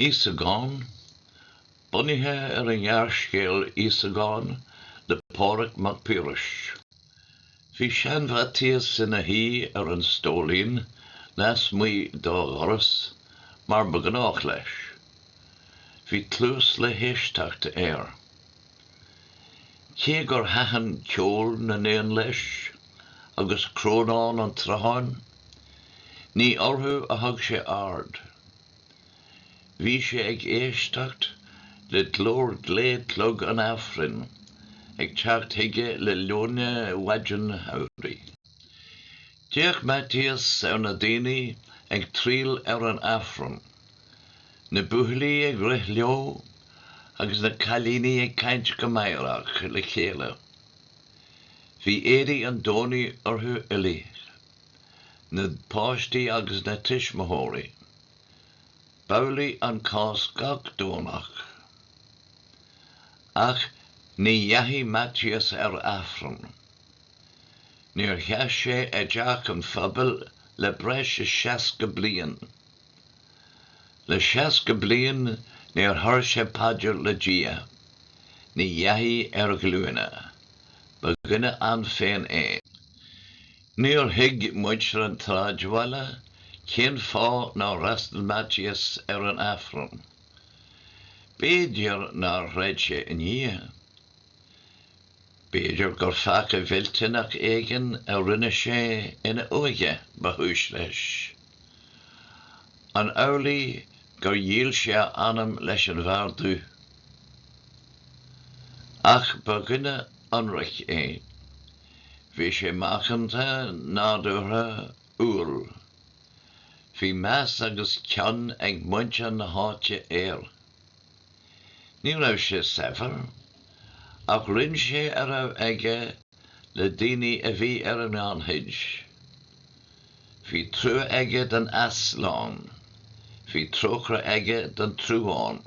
Íosagán, bunaithe ar an ngearrscéal Íosagán le Pádraig Mac Piarais. Bhí sean-Mhaitias ina shuí ar an stóilín lasmuigh dá dhoras, mar ba ghnách leis. Bhí cluas le héisteacht air. Cé gur thaitin ceol na n-éan leis, agus crónán an tsrutháin, ní orthu a thug sé aird. Bhí sé ag éisteacht le glór glé clog an Aifrinn ag teacht chuige le leoithne mhaidin shamhraidh. D'fhéach Maitias ar na daoine ag triall ar an Aifreann Na buachaillí ag rith leo agus na cailíní ag caint go meidhreach le chéile. Bhí éadaí an Domhnaigh orthu uilig, na páistí agus na tuismitheoirí. B'amhlaidh an cás gach Domhnach. Ach ní dheachaigh Maitias ar Aifreann. Níor sheas sé i dteach an phobail le breis is seasca bliain. Le seasca bliain níor chuir sé paidir le Dia. Ní dheachaigh ar ghlúine. Ba dhuine ann féin é. Níor thuig muintir an tsráidbhaile cén fáth nár fhreastal Maitias ar an Aifreann. B'fhéidir nár chreid sé i nDia. B'fhéidir gur peaca millteanach éigin a rinne sé ina óige ba chúis leis. An amhlaidh gur dhíol sé a anam leis an bhFear Dubh? Ach ba dhuine ionraic é. Bhí sé macánta, nádúrtha, umhal. Bhí meas agus cion ag muintir na háite air. Ní raibh sé saibhir, ach roinn sé a raibh aige le daoine a bhí ar an ngannchuid. Bhí trua aige don easlán, bhí trócaire aige don truán.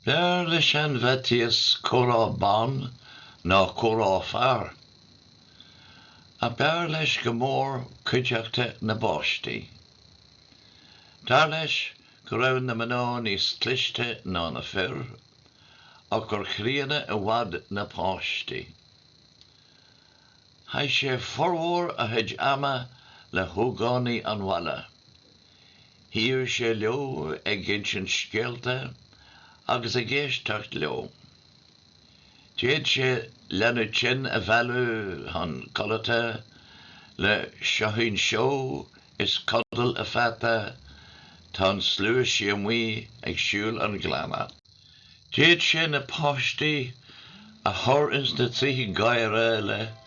B'fhearr le sean-Mhaitias comhrá ban ná comhrá fear. Ach b'fhearr leis go mór cuideachta na bpáistí. Dar leis go raibh na mná níos cliste ná na fir ach gur chríonna i bhfad na páistí. Chaith sé formhór a chuid ama le hógánaigh an bhaile. Shuíodh sé leo ag insint scéalta agus ag éisteacht leo. D'fhéad sé leanbh tinn a mhealladh chun codlata le Seoithín Seó is Codail a Pheata, Tá an Slua Sí Amuigh ag Siúl an Ghleanna. D'fhéad sé na páistí a chur ins na trithí gáire le.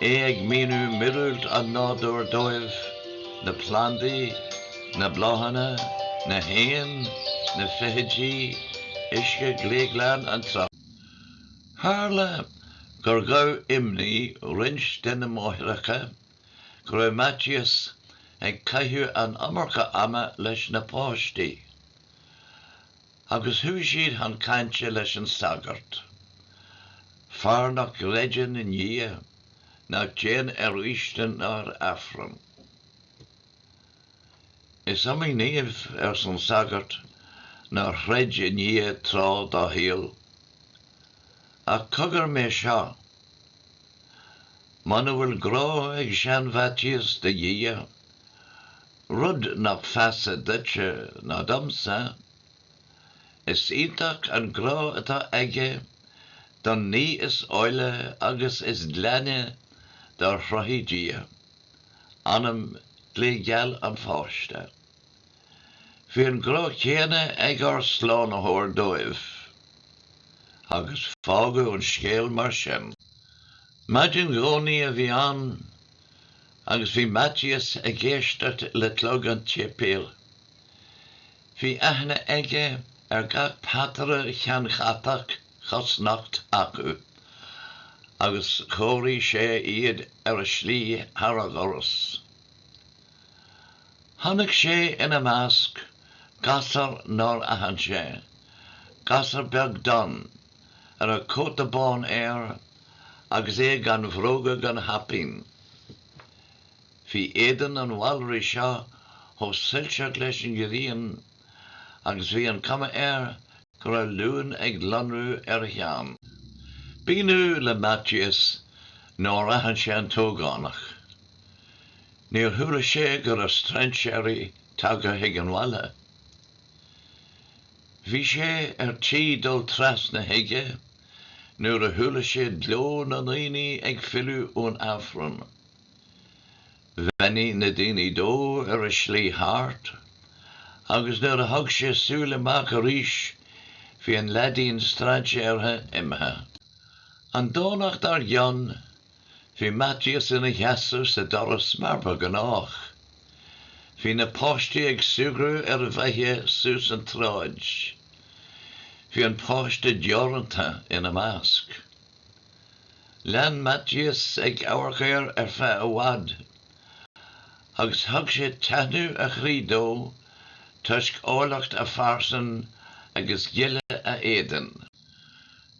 É ag míniú miorúilt an nádúir dóibh, na plandaí, na bláthanna, na héin, na feithidí, uisce gléghlan an tsrutha. Tharla gur ghabh imní roinnt de na máithreacha go raibh Maitias ag caitheamh an iomarca ama leis na páistí. Agus chuaigh siad chun cainte leis an sagart, fear nach gcreideann i nDia ná téann ar fhaoistin ná ar Aifreann. Is iomaí naomh, arsa an sagart, nár chreid i nDia tráth dá shaol. Ach cogar mé seo. Muna bhfuil grá ag sean-Mhaitias do Dhia, Rud nach feasa duitse ná domsa, is iontach an grá atá aige don ní is áille agus is glaine dár chruthaigh Dia, anam gléigeal an pháiste. Bhí an grá céanna ag ár Slánaitheoir dóibh. Agus fágadh an scéal mar sin. Maidin Domhnaigh a bhí ann. Agus bhí Maitias ag éisteacht le clog an tséipéil. Bhí aithne aige ar gach pataire ceannchatach cosnocht acu, agus chomhairigh sé iad ar a slí thar a dhoras. Chonaic sé ina measc gasur nár aithin sé, gasur beag donn, a raibh cóta bán air agus é gan bhróga gan chaipín. Bhí éadan an mhalraigh seo chomh soilseach leis an ngréin agus bhí an cuma air go raibh luan ag lonrú óna cheann. B'ionadh le Maitias nár aithin sé an t-ógánach. Níor chuala sé go raibh strainséirí tagtha chuig an mbaile. Bhí sé ar tí dul trasna chuige nuair a chuala sé gleo na ndaoine ag filleadh ón Aifreann. Bheannaigh na daoine dó ar a slí thart, agus nuair a thug sé súil amach arís bhí an leaidín strainséartha imithe. An Domhnach dár gcionn Bhí Maitias ina sheasamh sa doras mar ba ghnách. Bhí na páistí ag súgradh ar a mbealach suas an tsráid. Bhí an páiste deoranta ina measc. Lean Maitias ag amharc air ar feadh i bhfad, agus thug sé taithneamh a chroí dó toisc áilleacht a phearsan agus gile a éadain.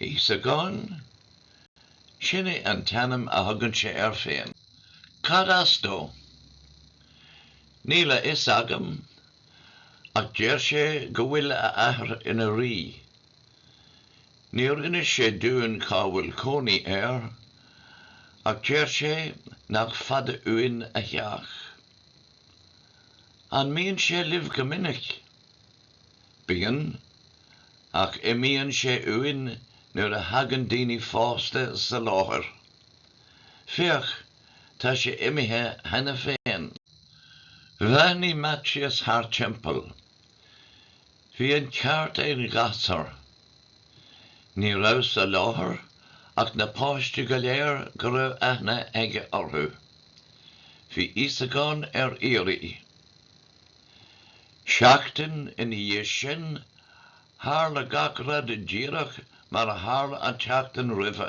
Íosagán? Sin é an t-ainm a thugann sé air féin. Cad as dó? Níl a fhios agam, ach deir sé go bhfuil a athair ina rí. Níor inis sé dúinn cá bhfuil cónaí air, ach deir sé nach fada uainn a theach. An mbíonn sé libh go minic? Bíonn, ach imíonn sé uainn nuair a thagann daoine fásta sa láthair. Féach, tá sé imithe cheana féin. Bhreathnaigh Maitias thar timpeall. Bhí an ceart ag an ghasúr. Ní raibh sa láthair ach na páistí go léir go raibh aithne aige orthu. Bhí Íosagán ar iarraidh. Seachtain ina dhiaidh sin, tharla gach rud díreach mar a tharla an tseachtain roimhe.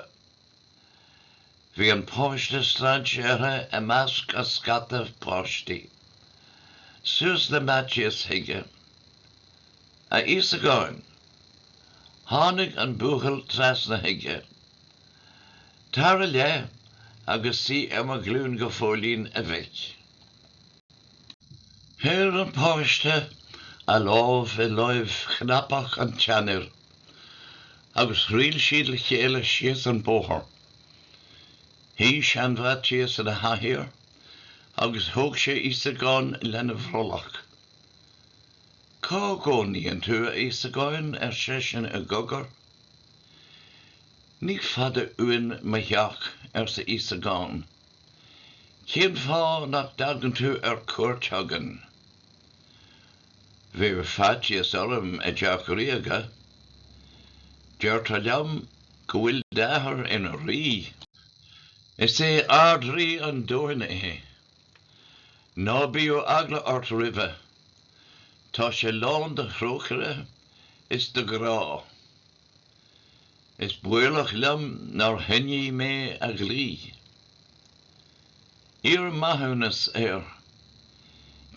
Bhí an páiste strainséartha i measc a scata páistí. Suas le Maitias chuige. A Íosagáin! Tháinig an buachaill trasna chuige. Tar i leith agus suigh ar mo ghlúin go fóillín, a mhic. Chuir an páiste a lámh i láimh chnapach an tseanfhir agus thriall siad le chéile síos an bóthar. Shuigh sean-Mhaitias ina chathaoir agus thóg sé Íosagán lena bhrollach. Cá gcónaíonn tú, a Íosagáin? ar seisean i gcogar. Ní fada uainn mo theach, arsa Íosagán. Cén fáth nach dtagann tú ar cuairt chugainn? Bheadh faitíos orm i dTeach Ríoga. Deirtear liom go bhfuil d'athair ina rí. Is é Ard-Rí an domhain é. Ná bíodh eagla ort roimhe. Tá sé lán de thrócaire is de ghrá. Is baolach liom nár choinnigh mé a dhlí. Iarr maithiúnas air.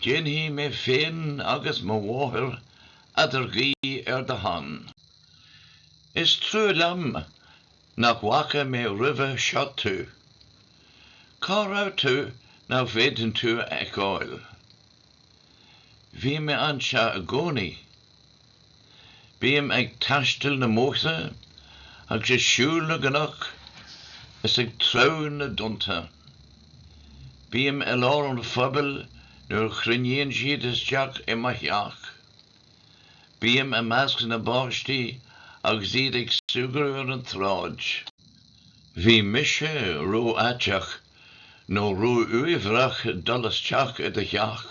Déanfaidh mé féin agus mo mháthair eadarghuí ar do shon. Is trua liom nach bhfaca mé roimhe seo tú. Cá raibh tú nach bhféadainn tú a fheiceáil? Bhí mé anseo i gcónaí. Bím ag taisteal na mbóithre agus ag siúl na gcnoc is ag treabhadh na dtonnta. Bím i lár an phobail nuair a chruinníonn siad isteach i mo theach. Bím i measc na bpáistí agus iad ag súgradh ar an tsráid. Bhí mise ró-fhaiteach nó ró-uaibhreach dul isteach i do theach.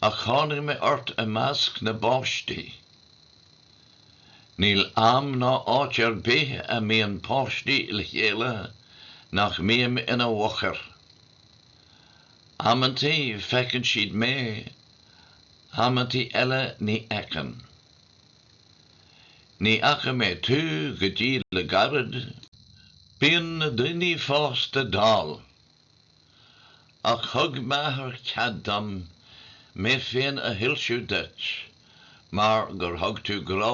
Ach tháinig mé ort i measc na bpáistí. Níl am ná áit ar bith a mbíonn páistí le chéile nach mbím ina bhfochair. Amantaí feiceann siad mé, amantaí eile ní fheiceann. Ní fhaca mé tú go dtí le gairid. Bíonn na daoine fásta dall. Ach thug m'athair cead dom mé féin a shoilsiú duit mar gur thug tú grá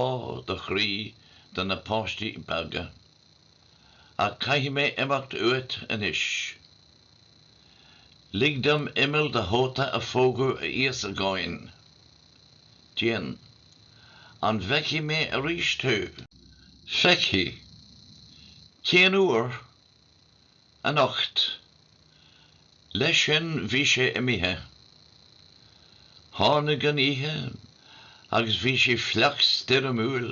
do chroí do na páistí beaga. Ach caithfidh mé imeacht uait anois. Lig dom imeall do chóta a phógadh a Íosagáin. Déan. An bhfeicfidh mé arís thú? Feicfidh. Cén uair? anocht. Leis sin bhí sé imithe. Tháinig an oíche agus bhí sé fliuch stoirmiúil.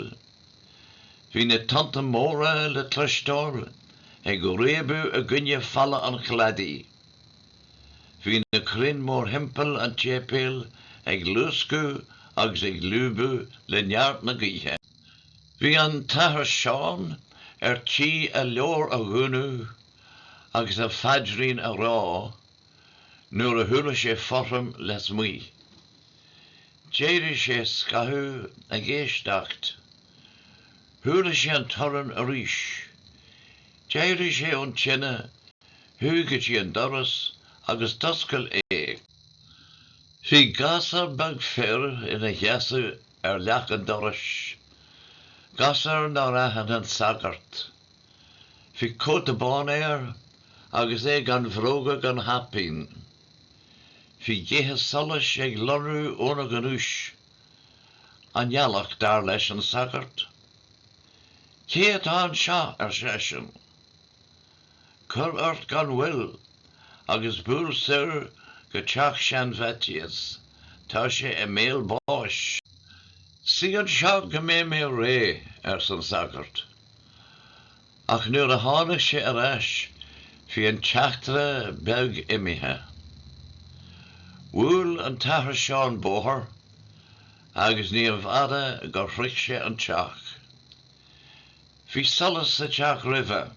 Bhí na tonnta móra le cloisteáil ag réabadh i gcoinne falla an chladaigh. Bhí na crainn mórthimpeall an tséipéil ag luascadh agus ag lúbadh le neart na gaoithe. Bhí an tAthair Seán ar tí a leabhar a dhúnadh agus a phaidrín a rá nuair a chuala sé fothram lasmuigh. D'éirigh sé scaitheamh ag éisteacht. Chuala sé an torann arís. D'éirigh sé ón tine, chuaigh go dtí an doras agus d'oscail é. Bhí gasúr beag fir ina sheasamh ar leac an dorais, gasúr nár aithin an sagart. Bhí cóta bán air agus é gan bhróga gan chaipín. Bhí gaetha solais ag lonrú óna ghnúis. An ghealach, dar leis an sagart. Cé atá anseo? ar seisean. Cuir ort gan mhoill agus buail soir go teach sean-Mhaitias, tá sé i mbéal báis. Suigh anseo go mbeidh mé réidh, ars an sagart. Ach nuair a tháinig sé ar ais bhí an teachtaire beag imithe. Bhuail an tAthair Seán bóthar agus níorbh fhada gur shroich sé an teach. Bhí solas sa teach roimhe.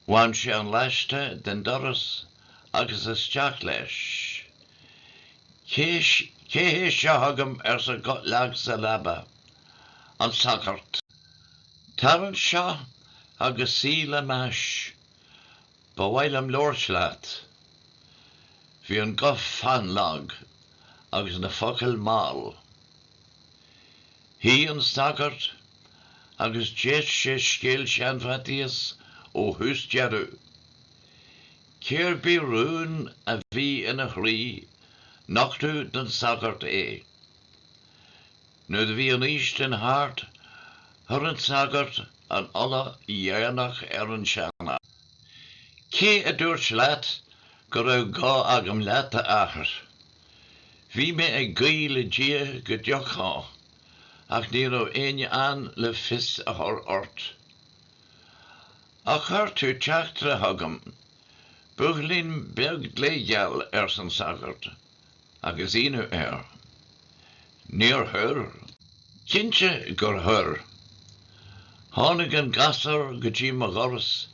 Bhain sé an laiste den doras agus isteach leis. Cé hé seo chugam arsa guth lag sa leaba. An sagart. Tar anseo agus suigh le m'ais. Ba mhaith liom labhairt leat. Bhí an guth fannlag agus na focail mall. Shuigh an sagart agus d'éist sé scéal Shean-Mhaitias ó thús deireadh. Cér bith rún a bhí ina chroí nochtadh don sagart é. Nuair a bhí an fhaoistin thart, chuir an sagart an ola dhéanach ar an seanfhear. Cé a dúirt leat go raibh gá agam leat, a athair? Bhí mé ag guí le Dia go dtiocfá, ach ní raibh éinne ann le fios a chur ort. Ach chuir tú teachtaire chugam, buachaillín beag glégeal, arsa an sagart. Agus ionadh air. Níor chuir. Cinnte gur chuir. Tháinig an gasúr go dtí mo dhoras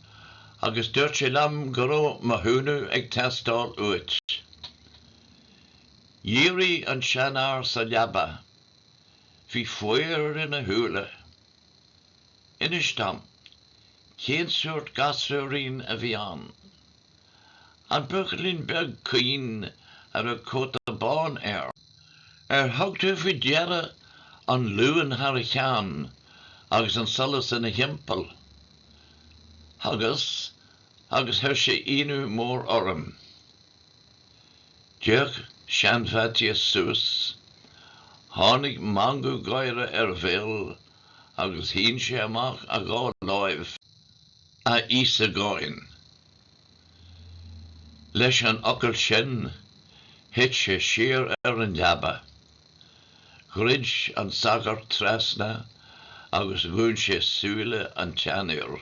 agus dúirt sé liom go raibh mo chúnamh ag teastáil uait. Dhírigh an seanfhear sa leaba. Bhí faghairt ina shúile. Inis dom, cén sórt gasúirín a bhí ann? An buachaillín beag caoin a raibh cóta bán air. Ar thug tú faoi deara an luan thar a cheann agus an solas ina thimpeall? Thugas, agus chuir sé ionadh mór orm. D'fhéach sean-Mhaitias suas, tháinig meangadh gáire ar a bhéal agus shín sé amach a dhá láimh. a Íosagáin. Leis an fhocal sin thit sé siar ar an leaba. Dhruid an sagart trasna agus dhún sé súile an tseanóra.